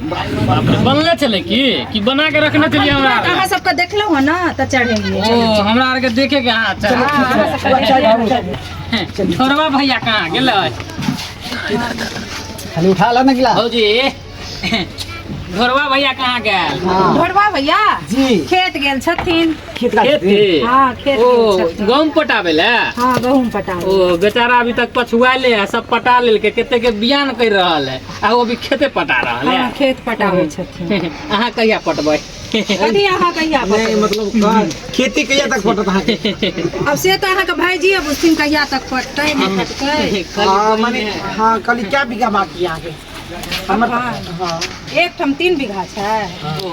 बनले छलै की कि बना के रखने छलिए हमरा आर अहाँ सबके देखलौ हन ना त चढ़ेलिए ओ हमरा आर के देखे के हाथ चल छोड़वा भैया कहाँ गेलै खाली उठा ला ना गिलास भौजी घोरवा भैया कहाँ गेल घोड़वा भैया जी खेत गेल छथिन खेत का खेती हाँ, खेत ओ गेल छथिन। गहूम पटाबे ले हाँ गहूँम पटाओ ओ बेचारा अभी तक पछुआले है सब पटा लेलके कते के बियान कर रहल है आ ओ अभी खेते पटा रहल है हाँ, खेत पटावे छथिन अहाँ कहिया पटबै कथी अहाँ कहिया नहीं पटबै? मतलब का- खेती कहिया तक पटत अहाँ के? अब से तो अहाँ के भाईजी अब उस दिन कहिया तक पटतै नहीं पटतै कल हाँ, बहिन माने है। हाँ कल क्या बीघा बाकी है अहाँ के हमर हाँ। हाँ एक ठम तीन बीघा छै ओ,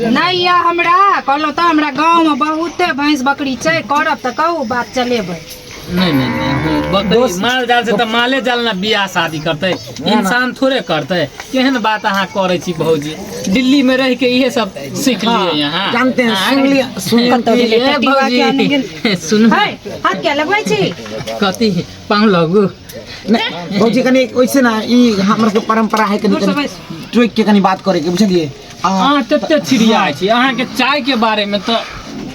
नहि यऽ हमरा कहलहुँ तऽ हमरा गाँवमे बहुते भैंस बकरी छै करब तऽ कहू बात चलेबै नहि नहि नहि हो बकरी दोस्त- माल जाल से तऽ माले जाल ने बियाह शादी करतै ना। इंसान थोड़े करतै केहन बात अहाँ करै छी भौजी दिल्ली में रह के इहे सब सीख लिए हाँ, यहाँ जानते हैं, हाँ, सुन लिया- सुन लिया। कतौ गेलै, ए, टटिवा भौजी, किया नहि गेल? सुनू है हाथ क्या लगबै छी कथी पाँव लगू नहि भौजी कनि ओइसे ना ई हमर सबके परम्परा है कनि दूर से कनि बैस। टोकि के कनि बात करे के बुझलियै अहाँ तते छिड़िया छी अहाँ के चाय के बारे में तो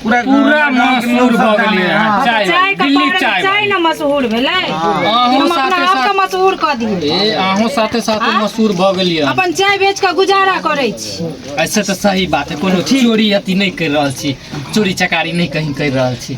पूरा पूरा मशहूर भऽ गेलियै अहाँ चाय चाय के दिल्ली बारे चाय में चाय ने मशहूर भेलै अहूँ हम अपना साथे आपके साथ मशहूर कऽ दियै ए अहूँ साथे साथे हाँ? मशहूर भऽ गेलियै अहाँ। अपन चाय बेच कऽ गुजारा करै छी ऐसे तो सही बात है कोनो चोरी अति नहीं कर रहल छी चोरी चकारी नहीं कहीं कर रहल छी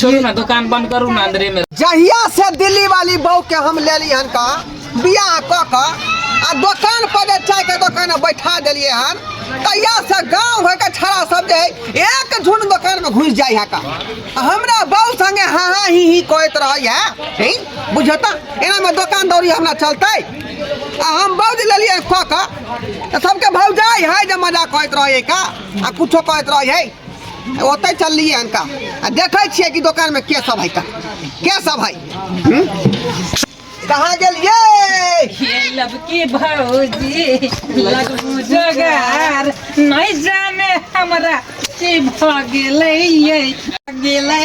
छोड़ू ना दुकान बंद करू ना अंदरे में जहिया से दिल्ली वाली बहू के हम लेली हन का बियाह क क आ दुकान पर जे चाय के दुकान में बैठा देलिए हन तहिया से गांव घर के छड़ा सब जे है, एक झुंड दुकान में घुस जाई है का आ हमरा बहू संगे हाँ हाँ ही ही कहत रही है हैं? बुझता एना में दुकान दौरी हमरा चलते आ हम बहू जे लेलिए हन क क त सबके भौजाई है जे मजाक कहत रही है का आ कुछो कहत रही है ओतै चललियै हनका आ देखै छियै कि दोकानमे के सब है के सब है हम्म? कहाँ गेलियै लबकी भौजी लगू जोगार नहीं जाने हमरा की भ गेलै गेलै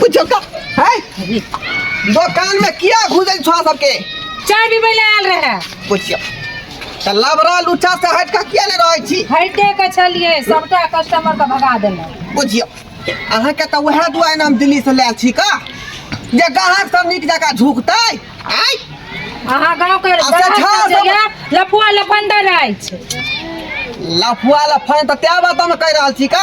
बुझो का है दुकान में किया घुसे छो सबके चाय भी पहले आल रहे बुझियो त लबरा लुचा से हट का किया ले रहै छी हटे के छलिए सबटा कस्टमर के भगा देले बुझियो अहाँ के त वहे दुआय नाम दिल्ली से लायल छी का जे गाहक सब नीक जका झुकतै आय अहाँ गांव के अच्छा, गलत अच्छा, सब- जगह लफुआ लफंदर अछि लफुआ लफान त त्या बात हम कह रहल छी का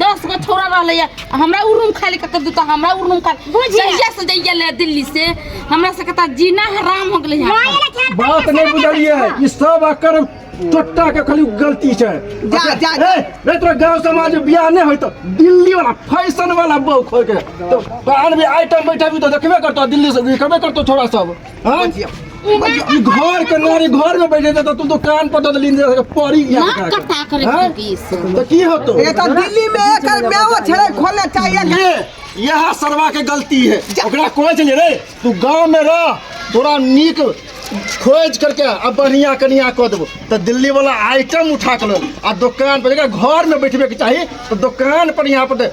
दस गो छोरा रहले या आ हमरा उ रूम खाली कत दू त हमरा उ रूम खाली बुझिया। जहिया से जइया ले दिल्ली से हमरा से कता जीना हराम हो गेले माय है ले खेल बात नहीं बुझलिए ई सब अकर टोट्टा के खाली गलती छै जा, जा, जा। ए, रे तोरा गांव समाज में बियाह नहीं होई तो दिल्ली वाला फैशन वाला बहू खोल के तो कान में आइटम बैठा भी तो देखबे करतो दिल्ली से देखबे करतो छोरा सब हाँ? ई घर के नारे घर में बैठे त तू दुकान पर ददली ने पड़ी गया ना कटा करे हाँ? बीस तो की होतो ये तो दिल्ली में एकर मेवा छड़े खोलना चाहिए ये यह सरवा के गलती है ओकरा कोच ले रे तू गांव में रह तोरा नीक खोज करके आ बढ़िया कनिया कऽ देबो तऽ दिल्ली वाला आइटम उठा के लो आ दुकान पर जकरा घर में बैठबे के चाही तऽ दुकान पर यहाँ पर दे-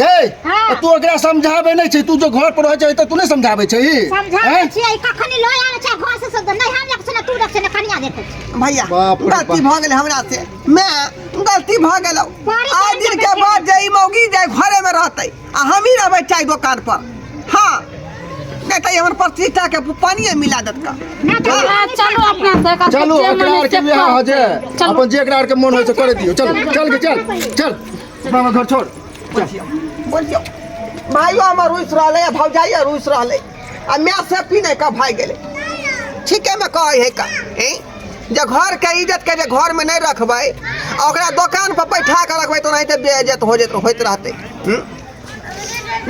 गई हाँ। तू ओकरा समझाबे नहीं छै तू जो घर पर रह छै त तू नहीं समझाबे छै समझाबे छै कखनी लय आवे छै घर से सब नहीं हम लक्षण तू लक्षण कनिया देते भैया गलती भ गेल हमरा से मैं गलती भ गेल आज दिन के बाद जई मौगी जाय घरे में रहते आ हम ही रहबे चाय दुकान पर हां नहीं तो हमर प्रतिष्ठा के पानी मिला देत का हाँ। चलो अपना से का चलो एकरा के जे हां जे अपन जे एकरा के मन होय से कर दियो चल चल के चल चल हमरा घर छोड़ बोलियो भाइयो हमर रुस रहले है भौजाइयो रुस रहले आ मैं से पी नहीं का भाई गेले ठीके में कहे है का ए? जे घर के इज्जत के जे घर में नहीं रखबै आ ओकरा दुकान पर बैठा के रखबै तो नहीं तो बेइज्जत हो जेत होइत रहते हम्म?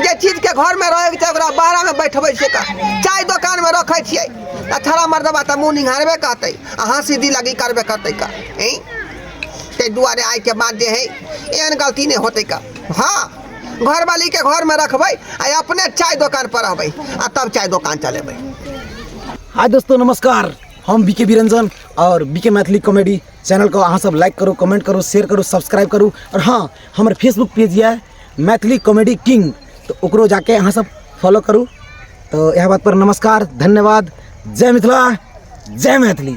जे चीज के घर में रहे के छै ओकरा बाहर में बैठबै छियै का चाय दुकान में रखै छियै आ थोड़ा मर्दबा तऽ मुँह निहारबे करतै आ हँसी दिलागी करबे करतै का ए? ताहि दुआरे आइके बाद जे हइ एहन गलती नहि होतै का हँ घरवालीके घरमे रखबै आ अपने चाय दोकानपर रहबै आ तब चाय दोकान चलेबै हाय दोस्तों नमस्कार हम बीके बिरंजन और बीके मैथिली कॉमेडी चैनल को अहाँ सब लाइक करू कमेंट करू शेयर करू सब्सक्राइब करू और हाँ हमर फेसबुक पेज यऽ मैथिली कॉमेडी किंग तऽ ओकरो जाके अहाँ सब फॉलो करू तऽ इएह बात पर नमस्कार धन्यवाद जय मिथिला जय मैथिली